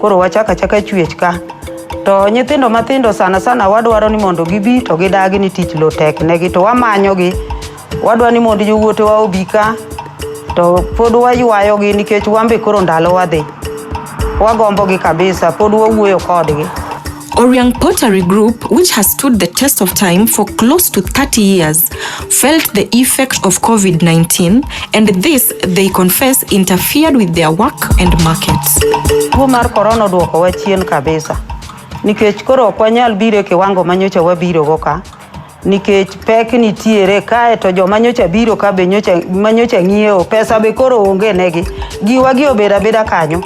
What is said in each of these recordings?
Koro wachak achaka chwech ka. To nyithindo mathindo sana sana wadwaro ni mondo gibi to gidagi ni tich lo tek negi to wamanyogi. Wadwa ni mondo jowuotewa obi ka to pod waywayogi nikech wan be koro ndalo wadhi. Wagombogi kabisa, pod wawuoyo kodgi. Oriang Pottery Group, which has stood the test of time for close to 30 years, felt the effect of COVID 19, and this, they confess, interfered with their work and markets. Tuo mar korona odwokowa chien kabisa nikech koro ok wanyal biro e kiwango manyocha wabirogo ka nikech pek nitiere kae to joma nyocha biro ka be nyocha ma nyocha ng'iewo pesa be koro onge negi giwa gi obeda beda kanyo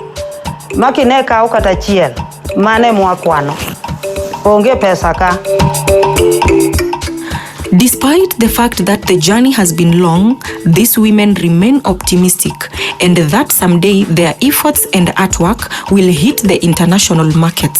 ma kine kawo kata chiel mane mwakwano onge pesa ka Despite the fact that the journey has been long, these women remain optimistic and that someday their efforts and artwork will hit the international markets.